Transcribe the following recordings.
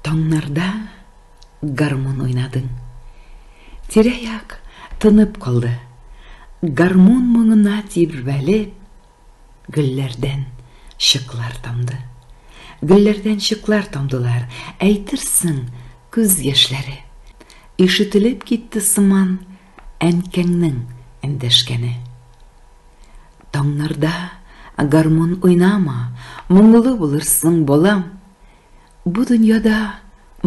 Таңнарда гармун уйнадың. Тирә-як тынып калды. Гармун моңына тирбәлеп, гөлләрдән шыклар тамды. Гөлләрдән шыклар тамдылар, әйтерсең, күз яшьләре. Ишетелеп китте сыман әнкәңнең эндәшкәне. Таңнарда гармун уйнама, моңлы булырсың, балам. Бу дөньяда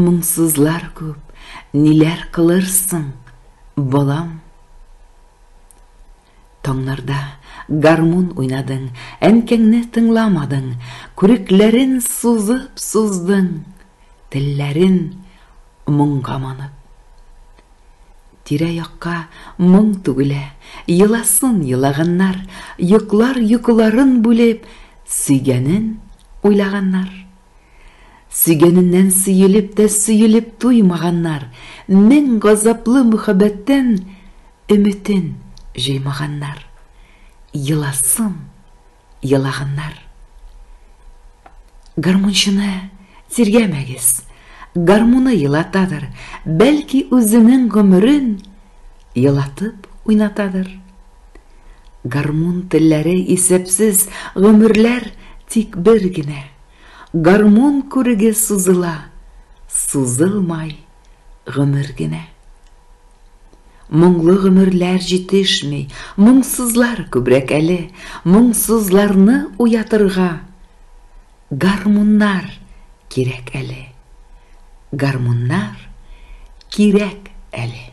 моңсызлар күп, ниләр кылырсың, балам? Таңнарда гармун уйнадың, әнкәңне тыңламадың, күрекләрен сузып суздың, телләрен моңга манып. Тирә-якка моң түгелә, Еласын елаганнар, Йоклар йокыларын бүлеп, Сөйгәнен уйлаганнар. Сөйгәненнән сөелеп тә Сөелеп туймаганнар, Мең газаплы мөхәббәттән Өметен җыймаганнар. Еласын. елаганнар. Гармунчыны тиргәмәгез. Гармуны елатадыр, бәлки үзенең гомерен елатып уйнатадыр. Гармун телләре исәпсез гомерләр тик бер генә. Гармун күреге сузыла, сузылмай гомер генә. Моңлы гомерләр җитешми, моңсызлар күбрәк әле, моңсызларны уятырга гармуннар кирәк әле. Гармуннар кирәк әле.